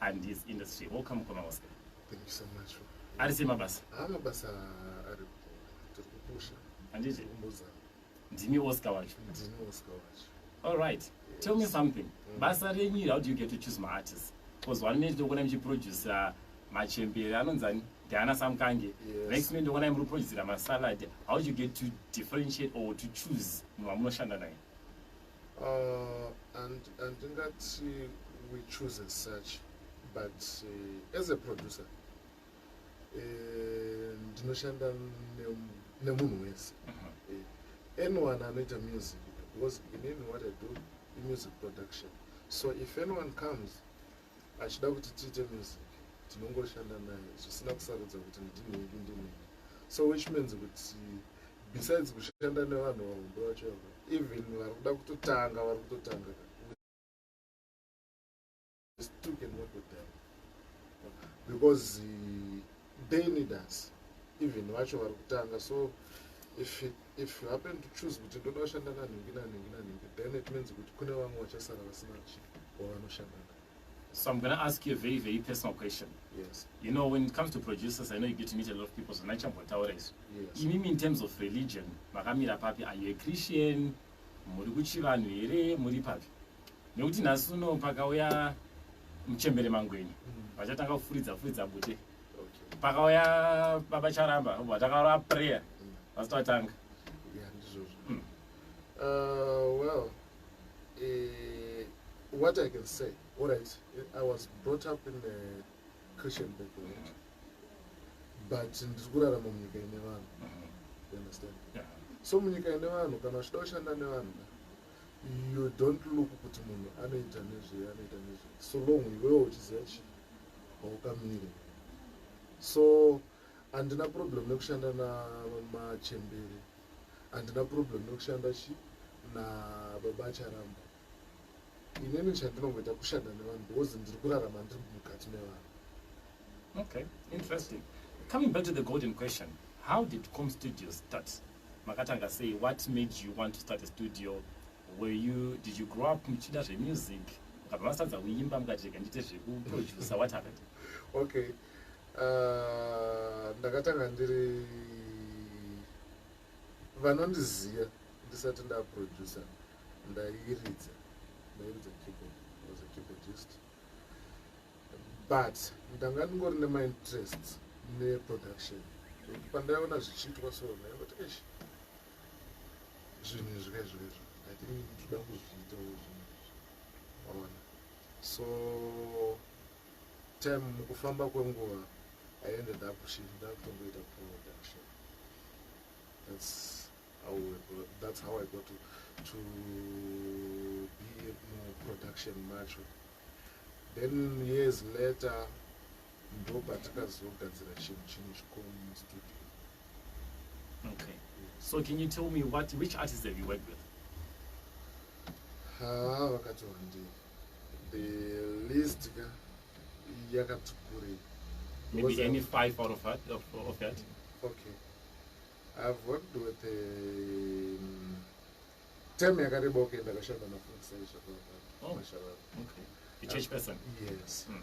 and his industry welcome mukoma oscar thank you so much ari sei mabasa haa mabasa ari tiri kupusha handiti kumbuza ndimi oscar wacho ndini oscar wacho all right yes. tell me something mm. basa renyu iri how do you get to choose maartist bcause one minute ndokuona muchiproducer machembere anonzi ani diana samkange yes. next minute ndokuona muri kuproducera masalad how do you get to differentiate or to choose munhu wamunoshanda naye Uh, and and that uh, we choose as such but uh, as a producer uh, ndinoshanda nemunhu wese uh-huh. anyone anoita music because inini what i do imusic production so if anyone comes achida kuti tiite music tinongoshanda naye zvisina kusarudza kuti ndini wedu ndini so which means kuti besides kushanda nevanhu vahombe vacho ava even vari kuda kutotanga vari kutotanga because eh, they need us even vacho vari kutanga so if it if you happen to choose kuti ndoda kushanda nanhingi nanhingi nanhingi then it means kuti kune vamwe vachasara vasina chi or vanoshanda na So I'm going to ask you a very, very personal question. Yes. You know, when it comes to producers, I know you get to meet a lot of people, so not chambotaura isu. Yes. Imimi in terms of religion, makamira papi, are you a Christian? Muri kuchivanhu here? Muri papi? Nekuti nhasi uno pakauya muchembere mangwenyu, mm. vachatanga kufuridza furidza bute. pakauya baba charamba obva takaura prayer vasati vatanga hmm. uh, well eh, what i can say allright i was brought up in a christian background but ndiri kurarama munyika ine vanhu hmm. you understand so munyika ine vanhu kana uchida kushanda nevanhu you don't look kuti munhu anoita nezvei anoita nezvei so long iwewo uchiziva chii haukamire so handina problem nekushanda namachembere handina problem nekushanda chi nababa acharamba inini chandinongoita kushanda nevanhu because ndiri kurarama ndiri mukati mevanhu okay interesting coming back to the golden question how did com studio start makatanga sei what made you want to start a studio Were you, did you grow up muchida zvemusic mukabva masatadza kuimba mukati rega ndiite zvekuproducer what happened? Okay, uh, ndakatanga ndiri vanondiziva ndisati ndaproducer ndairidza ndairidza keyboard was a keyboardist but ndanga ndingori nemainterest neproduction pandaiona zvichiitwa so ndaingoti eish zvinhu izvi ka izvo izvo i think toda kuzviitawo zvinhu izvi ona so time mukufamba kwenguva i ended up shit ndakutongoita production that's how we got, that's how i got to, to be mu production macho then years later ndopatakazogadzira chinhu chimwe chikuru mustudio okay so can you tell me what which artist have you worked with haa vakati wandii the list ka yakati kuri maybe any five out of that, of, of that? okay i've worked with a um, tem yakareba okay ndakashanda nafunsai zvakavaa okay. a church person yes mm.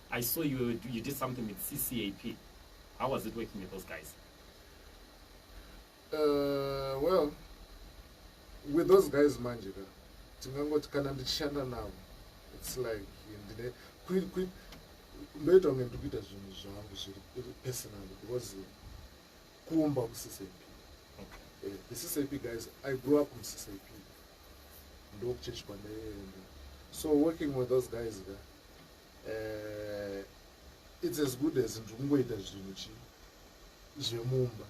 I saw you, you did something with CCAP. How was it working with those guys? Uh, well, with those guys manje ka tingangoti kana ndichishanda navo its like ndine ndoita kunge ndiri kuita zvinhu zvangu zviri personal because kuumba kuccp eh, the ccp guys i grew up muccp ndokuchechi kwandaenda so working with those guys ka eh, it's as good as ndiri kungoita zvinhu chi zvemumba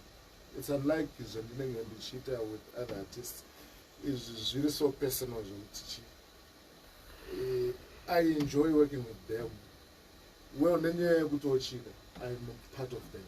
it's unlike zvandinenge ndichiita with other artists izvi zviri so personal zvekuti chi eh, i enjoy working with them well nenyaya yekutochika iam part of them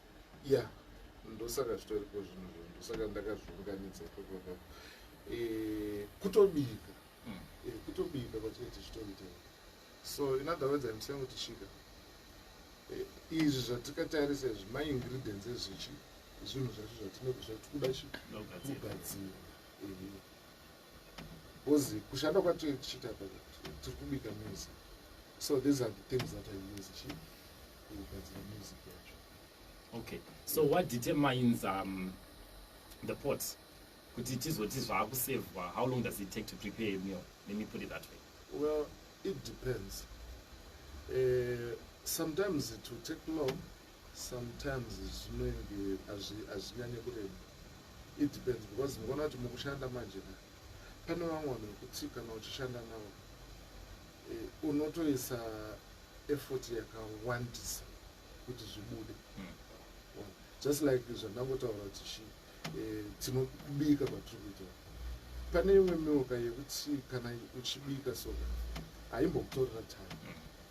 ya ndosaka zvitoripo zvinhu zvo ndosaka ndakazviunganidza ikoko ikoko eh, kutobika hmm. eh, kutobika kwatinoiti zvitoita so in other words im saying kuti shika eh, izvi zvatikatarisa izvi maingredients ezvichi zvinhu zvacho zvatinoda zvatikuda shi kugadzira Because kushanda kwatiri tichiita tiri kubika music. So these are the things that I use chief kugadzira music yacho. Okay. So what determines um, the pot? Kuti tizoti zvakusevwa, how long does it take to prepare a meal? Let me put it that way. Well, it depends. Uh, sometimes it will take long Sometimes zvinenge hazvinyanye kureba. It depends because ndikuona kuti mukushanda manje na pane vamwe vanhu vekuti kana uchishanda navo eh, unotoisa effort yakawandisa kuti zvibude hmm. just like zvandangotaura kuti chi eh, tinobika kwatiri kuita pane imwe mioka yekuti kana uchibika so haimbokutorera time hmm.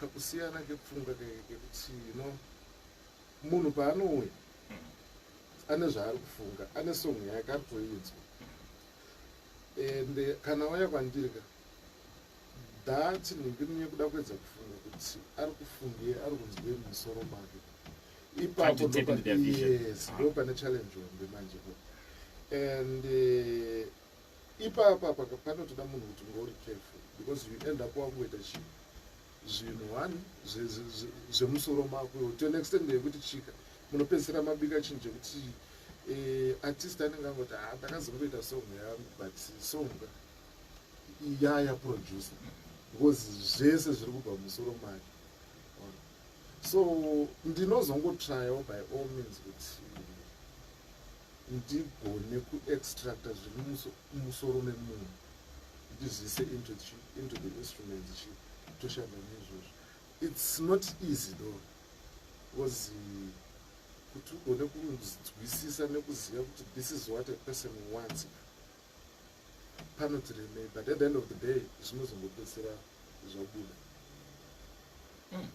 kakusiyana kepfungwa kekuti no munhu paanouya ane zvaari kufunga ane song yake ari kuidzwa and kana waya kwandiri ka that ndingirinye kuda kuedza kufunga kuti ari kufunge ari kunzwe musoro make ipapo yes ndo pane challenge hombe manje and eh, ipapa paka panotoda munhu kuti unge uri careful because you end up wakungoita chii zvinhu one zvemusoro mako iwo to an extent yekuti chika munopedzisira mabika chinhu chekuti eh, artist anenge angoti ha ah, ndakazongoita song yangu but song yaya producer because zvese zviri kubva musoro make so ndinozongotryawo by all means kuti ndigone kuextracta zviri musoro memunhu ndizvise into into the instrument chi toshanda neizvozvo its not easy though because kuti ugone kunzwisisa nekuziva kuti this is what a person wants panotiremei but at the end of the day zvinozongopedzisira zvabuda mm.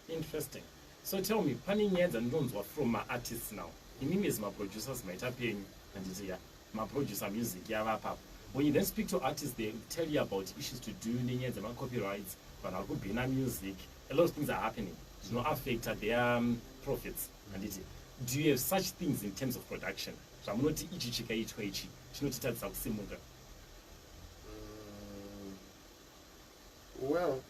interesting so tell me pane nyaya dzandinonzwa from maartists now imimi as maproducers maita penyu handiti ya maproducer music yava apapo when you then speak to artists they tell you about issues to do nenyaya dzemacopyrights vanhu vari kubhina music a lot of things are happening zvinoaffecta their um, profits handiti do you have such things in terms of production Zvamunoti ichi chikaitwa ichi chinotitadzisa kusimuka. Mm, well,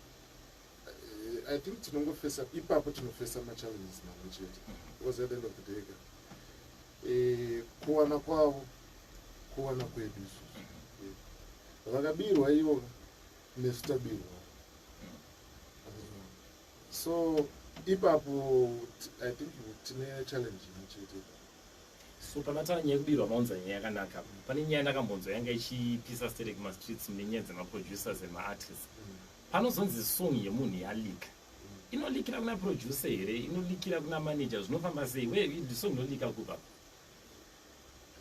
eh, I think tinongofesa ipapo tinofesa machallenges mamwe chete mm-hmm. because at the end of the day ka eh, kuwana kwavo kuwana kwedu isusu mm-hmm. eh, vakabirwa ivo nesu tabirwa so ipapo i think tine challenge imwe chete so panatara nyaya yekubirwa maunza nyaya yakanaka pane nyaya ndakambonzwa yanga ichipisa stere kumastreets mune nyaya dzemaproducers emaartist panozonzi song yemunhu yalika inolikira kuna producer here inolikira kuna manager zvinofamba sei we song inolika kupa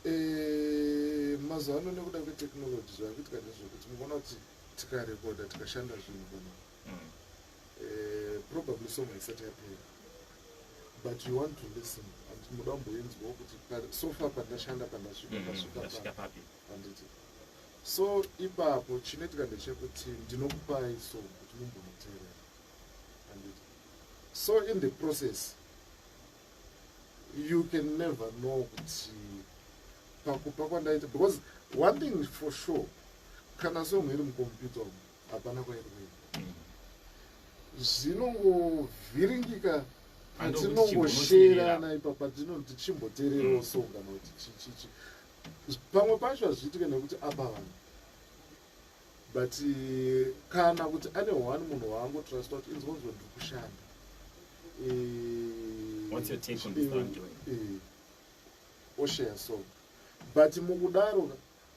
eh, mazuva ano nekuda kwetechnology zvakuitika ndezvekuti mukuona kuti tikarekoda tikashanda zvinhu kana mm. eh, probably song haisati yapera but you want to listen and muda kumboinzwawo kuti so far pandashanda pandasvika mm, ndasvika papi handiti so ipapo chinoitika ndechekuti ndinokupai so kuti mumbonoteerera handiti so in the process you can never know kuti pakupa kwandaita because one thing for sure kana song iri mukompyuta umu hapana kwairi kuenda zvinongovhiringika patinongosherana ipapa tinoti chimboteererawo so kana kuti chichichi pamwe pacho hazviitike nekuti apa vanhu but eh, kana kuti ane one munhu waango trust kuti inzonzwa ndiri kushanda eh, eh, osheya so but mukudaro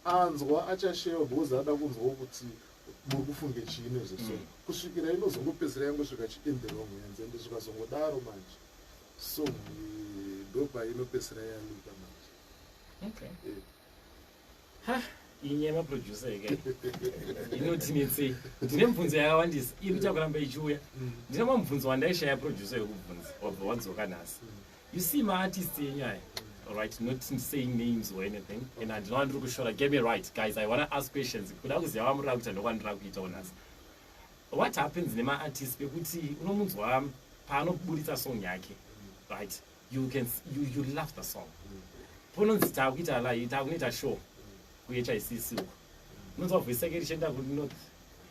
anzwa achasheva because ada kunzwawo kuti muri kufunge chii nezveso mm. kusvikira inozongopedzera yangosvika chiinderong hanzi ende zvikazongodaro manje so ndopa inopedzera yaluka manje okay. yeah. ha ini yemaproducer ika inotinetsei ndine mubvunzo yakawandisa iri kuchakuramba ichiuya mm. ndine mamubvunzo wandaishaya producer yekubvunza wabva wadzoka nhasi mm. you see ma artist enyu aya right not saying names or anything and handinoa ndiri kushora get me right guys i wanna ask questions kuda kuziva vamurira kuita ndokwandira kuita onasi what happens nema artist pekuti unomunzwa paanoburitsa song yake right you can you, you love the song pononzi taakuita lai taakunoita show kuhicc uko unonzwa voice yake richienda kunorth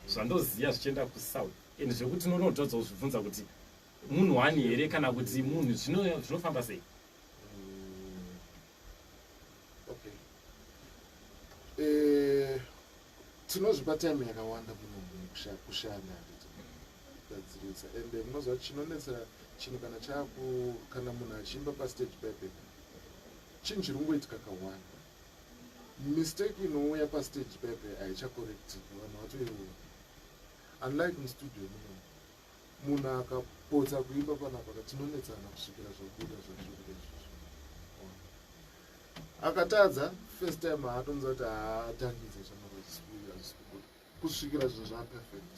zvandoziva zvichienda kusouth and zvekuti unonotodzwa kuzvibvunza kuti munhu wani here kana kuti munhu zvinofamba sei eh, tinozvipa time yakawanda munhu kushanda kugadzirisa and eh, munoziva chinonetsa chinhu kana chaku kana munhu achiimba pastage pepe chinhu chiri kungoitika kawanda mistake inouya pastage pepe haichakorektika vanhu vatoiona unlike mustudio muno munhu akapotsa kuimba panapa katinonetsana kusvikira zvabuda zvazvikuda izvozvo akatadza first time haatonza kuti haatangidze zvamaazisikubuda kusvikira zvinhu zvaperfect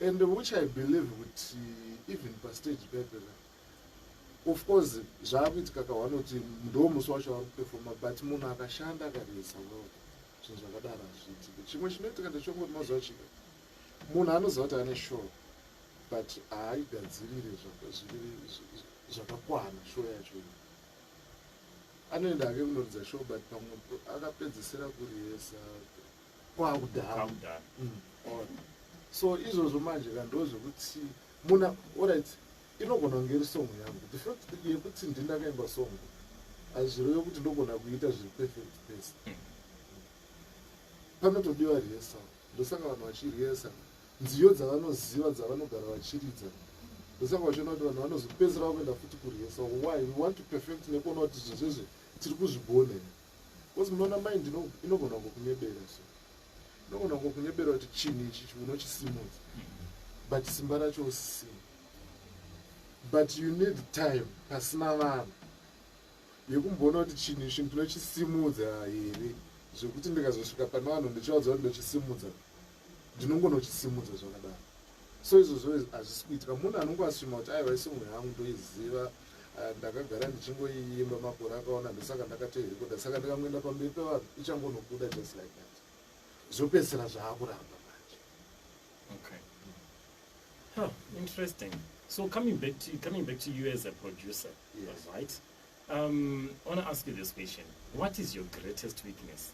and which i believe kuti even pastage pepera of course zvaakuitika kawanoti ndo musi wacho ari kupefoma but munhu akashanda akaresa well zvinhu zvakadaro hazviitike chimwe chinoitika ndechongoti mazuva chika munhu anoziva kuti ane show but haaigadzirire zvakakwana show yacho iyo anoenda ake kunoridza show but pamwe akapedzisira kurihesa kwakudhara mm, so izvozvo manje kando zvekuti muna orit inogona kunge iri songo yangu the fact yekuti ndindakaimba songo hazvireve kuti ndogona kuita zviri perfect pese mm. panotodiwa rihesao ndosaka vanhu vachiriyesa nziyo dzavanoziva dzavanogara vachiridza ndosaka vachiona kuti vanhu vanozopedzera vakuenda futi kuriyesa why we want to perfect nekuona kuti zvizvezve tiri kuzvigona here bcause munoona mind inogona kungokunyebera so inogona kungokunyebera kuti chinhu ichi unochisimudza but simba racho usisina but you need time pasina vanhu yekumboona kuti chinhu ichi ndinochisimudza here zvekuti ndikazosvika pane vanhu ndichivaudza kuti ndochisimudza ndinongonochisimudza zvakadaro so izvozvo hazvisi kuitika munhu anongo asvima kuti aiva isongo yangu ndoiziva ah, ndakagara ndichingoiimba makore akaona ndosaka ndakatoirekoda saka ndikangoenda pamberi pevanhu ichangonobuda just like that zvopedzisira zvaakuramba manje okay. huh, interesting so coming back to, coming back to you as a producer Yes. All right. Um, I want to ask you this question. What is your greatest weakness?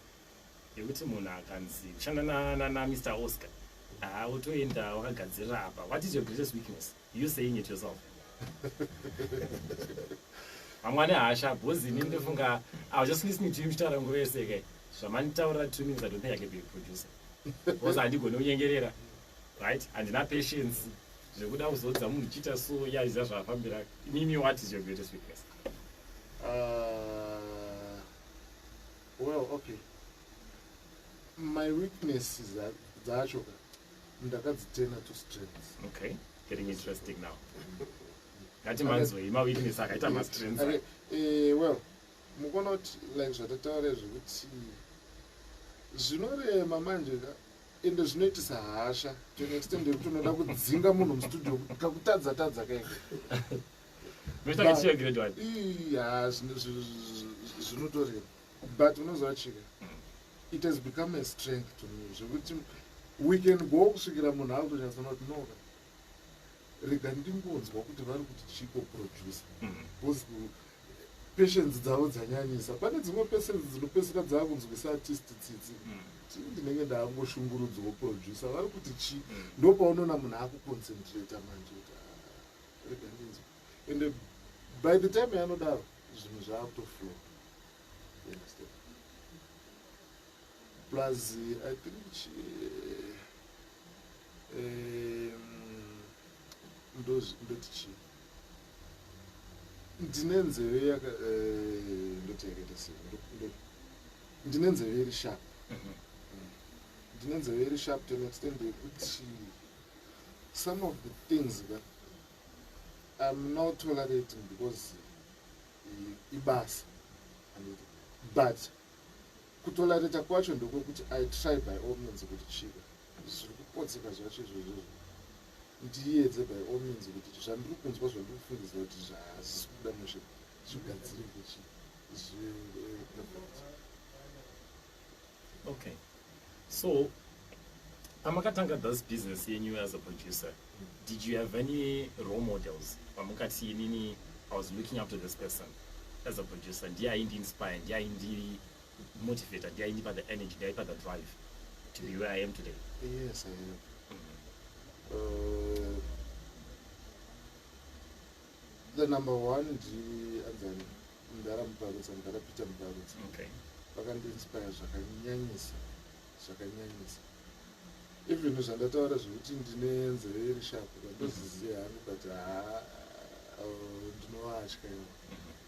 yekuti munhu akanzi kushanda namr oscar haa wotoenda wakagadzirira apa what is your greatest weakness you saying it yourself vamwani hasha bhozi ini ndofunga i was just listening to you muchitaura nguva yese ke zvamanditaurira two minutes i don't think i can be a producer bhozi handigoni kunyengerera right handina patience zvekuda kuzodza munhu chiita so yaiziva zvaafambira imimi what is your greatest weakness uh, well okay my weaknesses dzacho ka ndakadzitena to strengths okay getting interesting now ngati manzwei maweakness akaita mastrengths okay. uh, well mukona kuti like zvatataura zvekuti zvinorema manje ka ende zvinoitisa hasha to an extent yekuti unoda kudzinga munhu mustudio kakutadza tadza kaiko zvinotoreva but unoziva chika it has become a strength to me zvekuti we can go kusvikira munhu akutonyatsona kuti noka rega ndingonzwa kuti vari kuti chiko producer because mm. patience dzavo dzanyanyisa pane dzimwe patience dzinopeseka dzaakunzwisa artist tsitsi mm. ti ndinenge ndaangoshungurudzwawo producer vari kuti chi mm. ndo paunoona munhu akuconcentrata manje kuti ah, rega ndinzwa and uh, by the time yanodaro zvinhu zvaakutoflow understand plus i think chi, ndoti chii ndine nzeve yaka eh, ndoti yakaita sei ndine nzeve iri sharp mhm. ndine nzeve iri sharp to an extent yekuti some of the things ka im not tolerating because ibasa but kutolerata kwacho ndokwekuti i try by all means kuti chika zviri kupotseka zvacho izvozvo ndiyedze by all means kuti zvandiri kunzwa zvandiri kufungidzira kuti zvazvisi kubuda mushe zvigadzire kuchi okay so pamakatanga thus business yenyu as a producer did you have any role models pamukati inini i was looking up to this person as a producer ndiye aindiinspire ndiye aindii motivator ndiye aindipa the energy ndiye aipa the drive to be where i am today yes i am uh, the number one ndianzani mdara mubarutsa mdara peter mubarutsa okay. vakandiinspire zvakanyanyisa zvakanyanyisa even zvandataura zvekuti ndine nzeve iri shapu vandoziziva hangu but haa uh, ndinovatya ivo mm -hmm.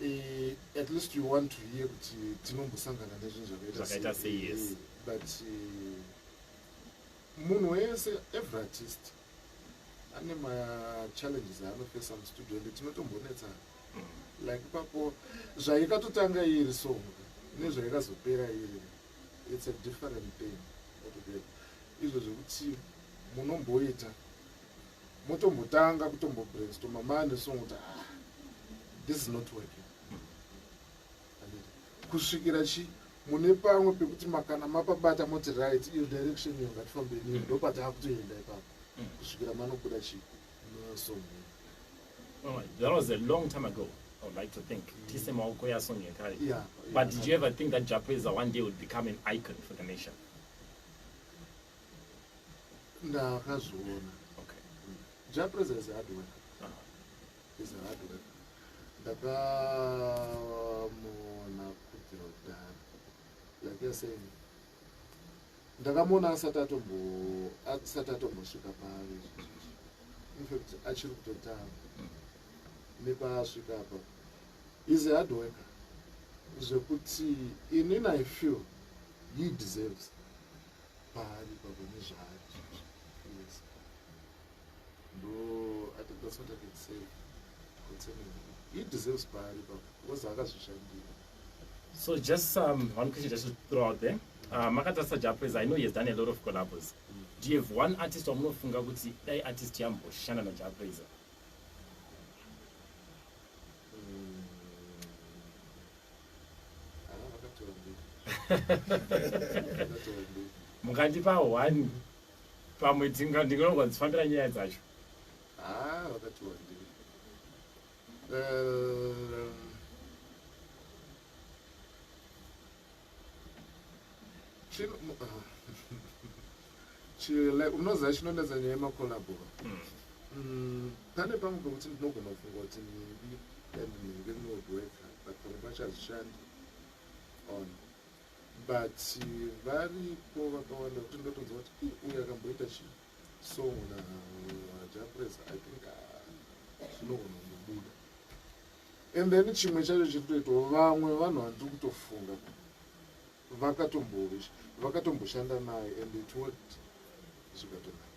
Eh, at least you want to hear kuti tinombosangana nezvinhu zvakaita se yes eh, but eh, munhu wese every artist ane machallenges aanofesa mustudio ende tinotombonetsana mm. like ipapo zvaikatotanga iri song nezvaikazopera iri it's a different thing izvo zvekuti munomboita motombotanga kutombobrainstorma mane song kuti ah, this is not working kusvikira chi mune pamwe pekuti makana mapabata moti right iyo direction iyo ngatifambei mm. ndopataa kutoenda ipapo mm. kusvikira manobuda chi nosong oh, that was a long time ago I would like to think mm. tise maoko yasong yekare yeah, but yeah, did you ever think that japeza one day would become an icon for the nation ndakazviona okay ja president is hard work uh -huh. is hard work ndakamuona kudhirodhara like you're saying ndakamuona asati atombo asati atombosvika paari infact achiri kutotanga mm. nepaasvika apa is a hard worker zvekuti inini i feel he deserves paari ipapo nezvaari yes ndo i think that's what i can say concerning he deserves paari ipapo because akazvishandira so just um, one question just to throw out there uh, makatarisa japres i know he has done a lot of collabos mm. do you have one artist wamunofunga kuti dai artist yamboshanda najapresa mukandipa one pamwe ndinogwa dzifambira nyaya dzacho ah, eh, Chile unoziva chinonetsa nyaya yemakolabo mm, pane pamwe pekuti ndinogona kufunga kuti nhingi and nhingi rinodweka but pamwe pacho hazvishandi on but varipo vakawanda kuti ndotonza kuti uyu akamboita chii so muna japres i think ah, zvinogona kungobuda and then chimwe chacho chiri kutoitawo vamwe vanhu vandiri kutofunga vakatombovisha vakatomboshanda naye and it worked zvikatonaka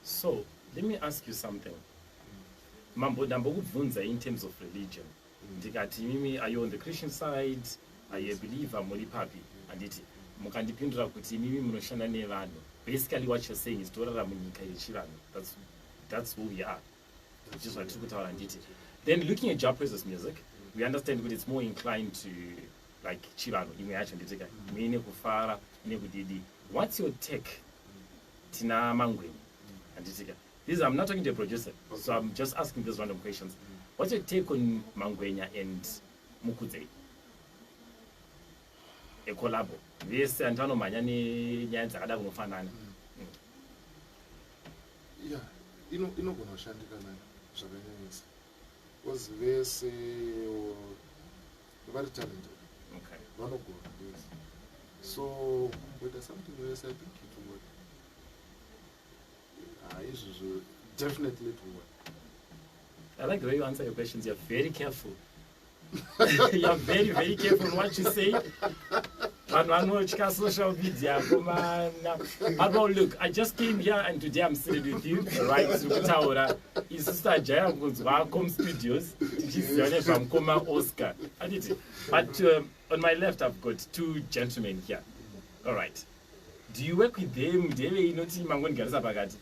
so let me ask you something mambo ndambokubvunza in terms of religion mm. ndikati imimi are you on the christian side are you a believer muri papi handiti mukandipindura kuti imimi munoshanda nevanhu basically what you're saying is torara munyika yechivanhu that's, that's who we are which is vatiri kutaura handiti then looking at job presence music we understand kuti it's more inclined to like chivanhu imwe yacho nditika imwe ine kufara ine kudidi what's your take tina mangweni handitika this i'm not talking to a producer so i'm just asking these random questions what's your take on mangwenya and mukudzei ecolabo vese andivanomhanya nenyaya dzakada kunofanana mm. ya ino inogona kushandika nayo zvakanyanyisa bcause vese vari talented okay. vanogona vese so kumboita something vese i think it will work ah, izvozvo definitely it will work i like the way you answer your questions you're very careful you're very very careful what you say vanhu vanotya social media komana apo look i just came here and today i'm sitting with you right tiri kutaura isu sitajaira kunzwa com studios tichiziva nezvamukoma oscar anditi but um, on my left i've got two gentlemen here all right do you work with them ndeve inoti mangonigarisa pakati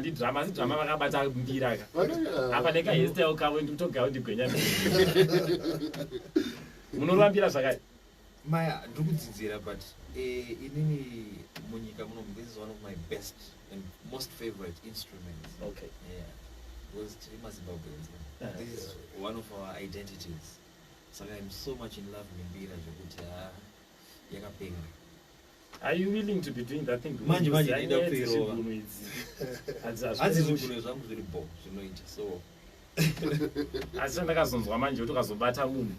ndidrama asi drama vakabata mbira ka apa neka hestel kavo ndikutogawo ndigwenya munorambira zvakati maya ndiri kudzidzira but eh, inini munyika muno this is one of my best and most favorite instruments okay yeah because tiri mazimbabweans ah, this is one of our identities saka so much in love nembira zvekuti ha ah, yakapenga Are you willing to be doing that thing? Manje manje ndaida kuirova. Hanzi zvigunwe zvangu zviri bo zvinoita so. Asi ndakazonzwa manje kuti ukazobata munhu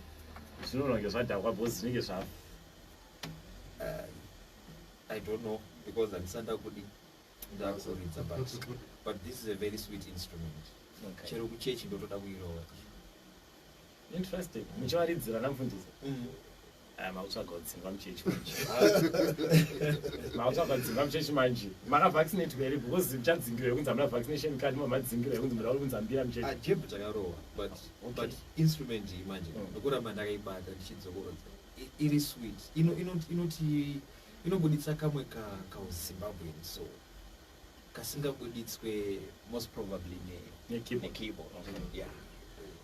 zvinononge zvadhakwa bhozi zvinenge zvavo. Uh, I don't know because handisanda kudi ndakuzoridza but but this is a very sweet instrument. Okay. Chero kuchechi ndotoda kuirova. Interesting. Muchivaridzi vana mfundisi. Mm. Ah, makutsvaga dzimba muchechi manje. Makutsvaga dzimba muchechi manje. Maka vaccinate here because chadzingirwa yekunzi amuna vaccination card mama dzingirwa yekunzi mura kunzi ambira muchechi. Ah, jeb chakarowa but okay. but instrument iyi manje. Mm. Ndokuramba ndakaibata ndichidzokorodza. Iri sweet. Ino ino inoti inobuditsa kamwe ka ka Zimbabwean so kasingabuditswe most probably ne ne keyboard. Ne keyboard. Okay. Mm. Yeah.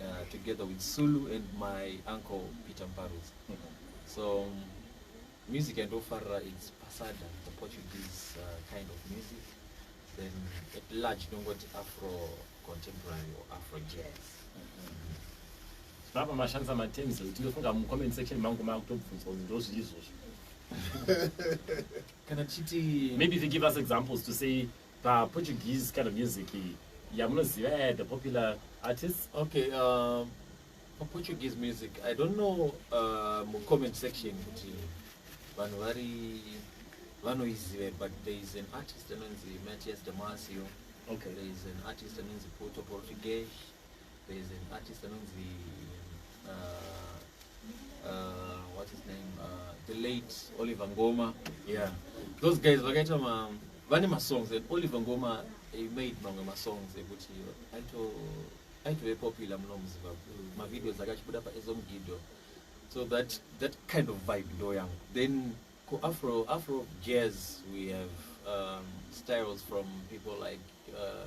uh, together with Sulu and my uncle Peter Mparuz. Mm -hmm. So um, music and Ofara is Pasada, the Portuguese uh, kind of music. Then at large, don't go to Afro contemporary or Afro jazz. Baba mashandisa matems ekuti ndofunga mucomment section mangu makutobvunzwa kuti ndozviri izvozvo kana tichiti maybe if you give us examples to say Pa Portuguese kind of music yamunoziva yeah, the popular artists? Okay, uh, pa Portuguese music, I don't know uh, mu comment section kuti vanhu vari vanoizive but there is an artist anonzi Matias Damasio. Okay. There is an artist anonzi Puto Portuguese. There is an artist anonzi uh, uh, what's his name uh, the late Oliver Ngoma yeah those guys vakaita ma vane masongs and Oliver Ngoma he made mamwe masongs ekuti aito aitove popular muno muzimbabwe mavideos akachibuda paezomgido so that that kind of vibe ndo yangu then kuafro afro jazz we have um, styles from people like uh,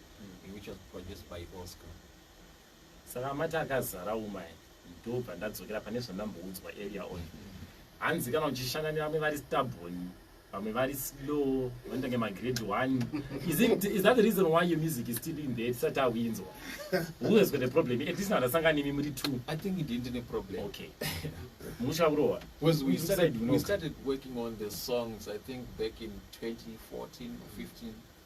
which was produced by oscar saka mati akazara umai ndobva ndadzokera pane zvandamboudzwa earlier on hanzi kana uchishanda nevamwe vari stubborn vamwe vari slow vanoita nge magrade one is, it, is that the reason why your music is still in there tisati awinzwa who has got a problem at least andasanga nemi muri two i think ndii ndine problem okay musha kurohwa because we started, we started working on the songs i think back in 2014 or 15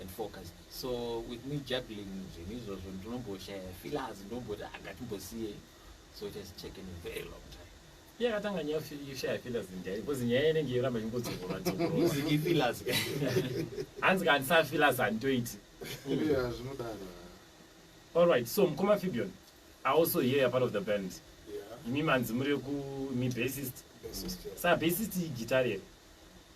and focus so with me juggling zvinhu izvozvo ndinomboshaya feelers ndinomboti angatimbosiye ah, so it has taken a very long time yakatanga nyaya yoshaya feelers nyaya because nyaya inenge yoramba ingodzorora dzororoziki feelers hanzi ka handisa feelers handitoiti zvinodaro all right so mukoma fibion i also hear you're part of the band imi manzi muri ku mi bassist sa bassist igitari here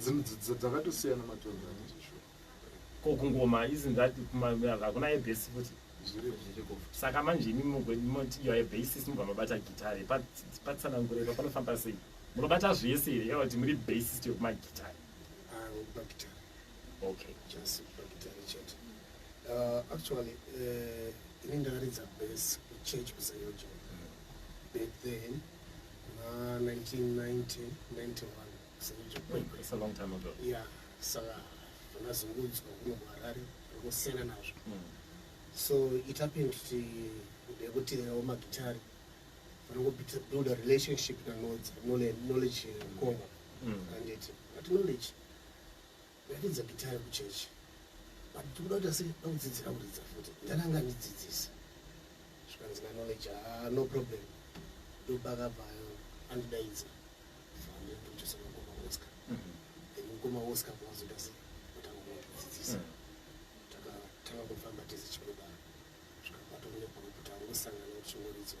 dzinhu dzakatosiyana matongo anosho ko kungoma isn't that hakuna ebase futi saka manje imi mugwedimoti yo ebasis mubva mabata gitare patsanangure pa panofamba sei munobata zvese here eva kuti muri basist yokumagitare ah, okay just bagitare chete uh, actually uh, ini ndaridza base kuchurch kusayoja but then kuna 1990 ya saka vanazungudzwa kuno kuharare vanosiyana nazvo hmm. so it happened kuti ndekuti awo magitari vanongobuilda relationship nanodzi knowledge konga hmm. anditi but knowledge Ndaridza gitare kuchechi but ndikuda kuti asi ndakudzidzira kuridza futi ndani anga andidzidzisa zvikanzi nanoleja ah, no problem ndopakabvayo andidaidza vandotochesa mukoma oscar mhm. then mukoma oscar kwazoita se atanga kuvadzidzisa mhm. takatanga kufamba tese chimudaro zvikabatwa kune pamwe kuti angosangana kuti chingoridzwa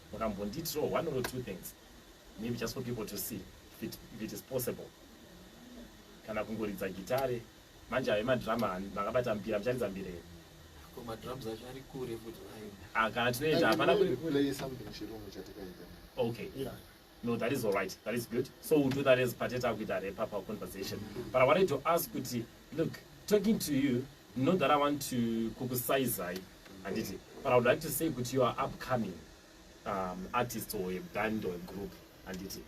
Wakambondiitirawo one or two things maybe just for people to see if it, if it is possible kana kungoridza gitare manje ave madrama makabata mbira mucharidza mbira here madrums acho ari kure futi ah, kana tinoenda hapana okay yeah. no that is all right that is good so we'll do that as pateta kuita repa pa conversation but i wanted to ask kuti Look, talking to you, not that I want to kukusaizai, handiti, but I would like to say kuti you are upcoming um, artist or a band or a group, handiti.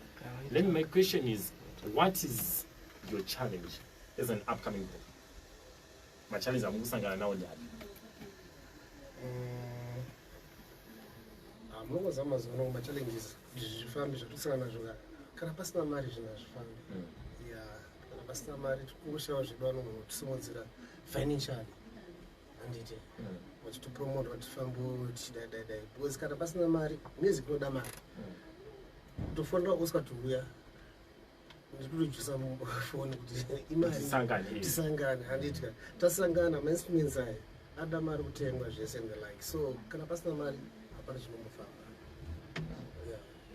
Then my question is, what is your challenge as an upcoming group? My challenge I'm going to now. Munongoza mazuva ano machallenges zvifambi zvatisangana nazvo kana pasina mari zvinhu hazvifambi. Mm. kana pasina mari tikushava zvedu vanhu vatisimudzira financially handiti vachitopromota hmm. vatifambo tichidaidadai because kana pasina mari music inoda mari kutofonera hmm. usatiuya ndikutojusa foni kuti imaritisangane handiti ka tasangana mainstruments aya ada mari kutengwa zvese and the like so kana pasina mari hapana zvinomufamba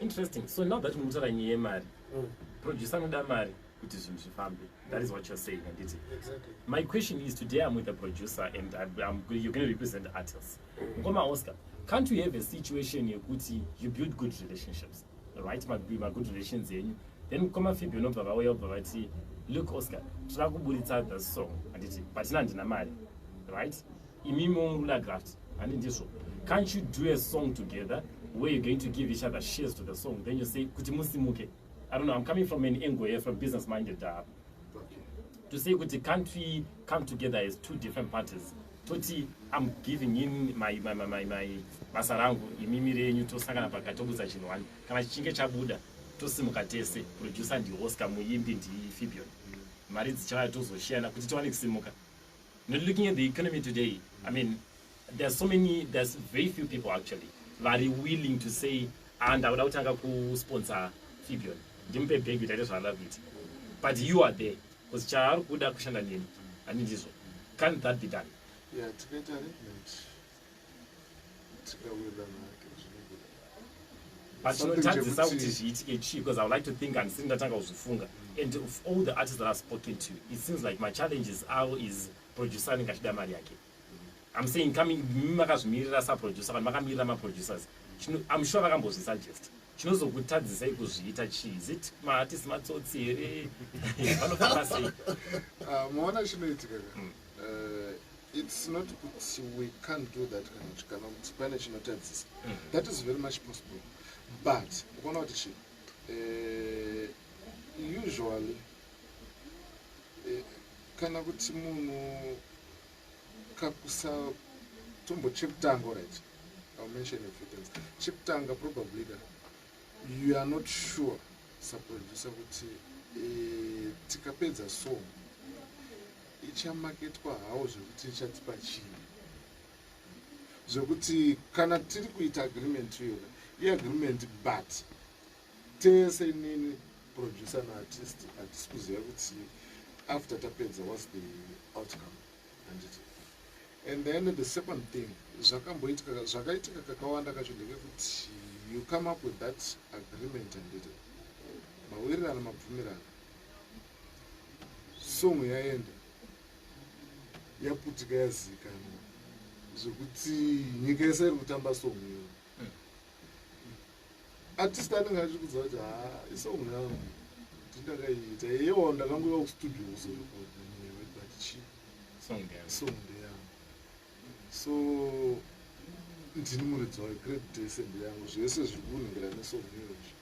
interesting so now that muri kutaura nyaya yemari mm. producer anoda mari kuti zvinhu zvifambe that is what you're saying handiti exactly. my question is today i'm with a producer and I'm, I'm, you're going to represent artists ngoma mm. oscar can't you have a situation yekuti you build good relationships right magood relations enyu then mukoma fibi unobva vauya ubva vati look oscar tira kuburitsa the song handiti patina handina mari right imimo muna graft handi ndizvo can't you do a song together where you're going to give each other shares to the song then you say kuti musimuke i don't know i'm coming from an angle here from business minded dab uh, okay. to say kuti can't we come together as two different parties toti i'm giving him my, my, my, my, my basa rangu imimi renyu tosangana pakati tobudza chinhu wani kana chichinge chabuda tosimuka tese producer ndioscar muimbi ndifibion mari dzichauya tozoshiyana kuti tiwane kusimuka Not looking at the economy today, I mean, there's so many, there's very few people actually vari willing to say, ah, ndakuda kutanga kusponsor Fibion. Ndimupe bag kuti aite zvaanoda kuita. But you are there, because chaari kuda kushanda neni, handindizvo. Can't that be done? Yeah, tikaita arrangement. but chinotadzisa kuti zviitike chii because i would like to think handisiri ndatanga kuzvifunga and of all the artists that i've spoken to it seems like machallenges avo is producer anenge achida mari yake i'm saying coming mimi makazvimirira saproducer vanhu vakamirira maproducers i'm sure vakambozvisuggest chinozokutadzisai kuzviita chii is it maartist matsotsi here vanofamba sei ah, moona chinoitika hmm. eh, It's not kuti we can't do that kana kuti kana kuti pane chinotadzisa mm. that is very much possible but ukaona kuti chi eh, usually eh, kana kuti munhu kakusa tombo chekutanga right ill mention a few things chekutanga probably ka you are not sure saproducer kuti eh, tikapedza song ichamaketwa hawo zvekuti ichatipa chii zvekuti kana tiri kuita agreement iyona iagreement but tese nini producer naartist hatisi kuziva kuti after tapedza was the outcome anditi and then the second thing zvakamboitika zvakaitika kakawanda kacho ndekekuti you come up with that agreement anditi mawirirano mabvumirano song yaenda yaputika yazikana zvekuti nyika yese iri kutamba song iyo artist anenge achiri kudza kuti ha isong yangu ndindakaiita yeyewo ndakangoiva kustudio kuzorikodichi song ndeyangu so ndini muridzi wayo great dese ndeyangu zvese zviri kunhingirana nesong iyo izvi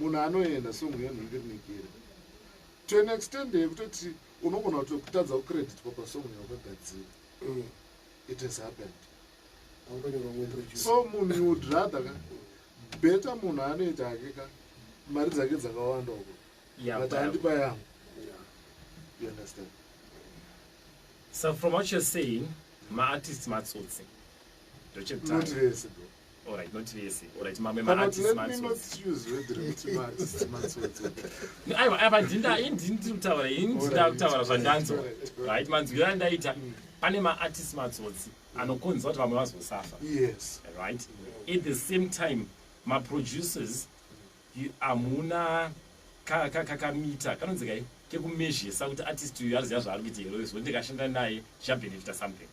munhu anoenda song iyo rinenge rine gere to an extend yekutoti unogona kuto kutadza kucreditwa pasong yawakagadzira mm. it has happened so munhu you would rather ka better munhu anoita ake ka mari dzake dzakawanda uko but andipa yangu you understand so from what you're saying maartist matsotsi ndochekutanga Alright, not vese. Alright, mamwe ma artists ma No, aiwa, aiwa, ndinda, ini ndini tiri kutaura, ini ndinda kutaura zvandanzwa. Right, manzwiro andaita, mm. pane ma artists matsotsi anokonza kuti vamwe vazosafa. Yes. Right. At the same time, ma producers amuna ka ka ka kamita kanonzi kai kekumezhesa kuti artist uyu ariziva zvaari kuita here izvo ndikashanda naye zvichabenefita something.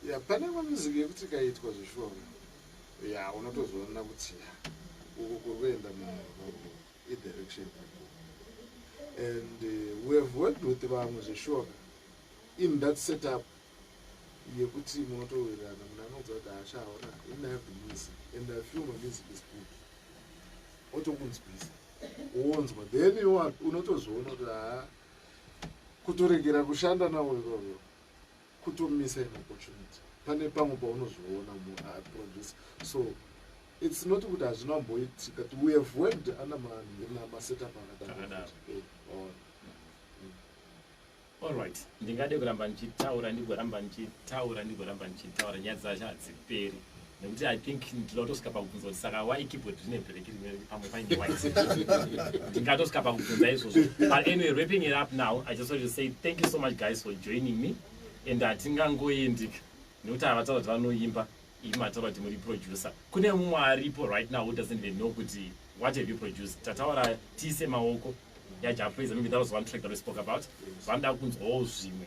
Yeah, pane imwe music yekuti ikaitwa zveshuwa uyu yeah, unotozoona kuti ya uku kuri kuenda munhu idirection and uh, we have worked with vamwe zveshuwa in that setup yekuti munotowirirana munhu anodza kuti haashaona even have the music and i feel my music is good otokunzwisa wonzwa then unotozoona kuti haa kutoregera kushanda nawo ivovo Kuto missa an opportunity pane pamwe paunozviona mu uh, producer so it's not kuti hazvina kumboitika ti we have worked ana masetup akadaro eh, allright ndingade kuramba ndichitaura ndigoramba ndichitaura ndigoramba ndichitaura nyaya dzacho hadziperi nekuti i think ndinoda kutosvika pakubvunza kuti saka why keyboard rine black rimwe pamwe paine white ndingatosvika pakubvunza izvozvo but anyway wrapping it up now i just want to say thank you so much guys for joining me and hatingangoendika nekuti havataura kuti vanoimba ii mataura kuti muri producer kune mumwe aripo right now who doesn't even know kuti what have you produced tataura tiise maoko yajapraiser maybe that was one track that we spoke about vanoda kunzwawo zvimwe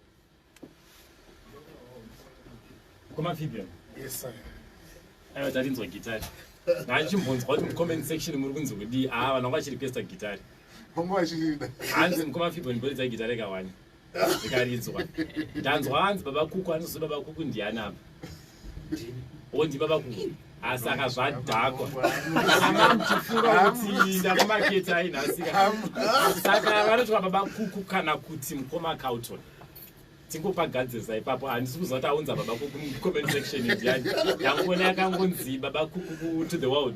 kwamafibia yes sir aiwa tarinzwa gitari ngachimbonzwa kuti mucomment section muri kunzi kudii aa ah, vanhu vanga vachiri pesta gitari vanga vachirida hanzi mukoma fibon boridza gitari kawani ikaridzwa ndanzwa hanzi baba kuku anozi baba kuku ndiani apa wonzi baba kuhu asi akazvadhakwa amamchifunga kuti ndakumaketi ainhasika saka vanotwa baba kuku kana kuti mukoma cauton tingopagadzirisa ipapo handisi kuziva kuti aunza baba kuku mucomment section ndiyani yangoona yakangonzi baba kuku to the world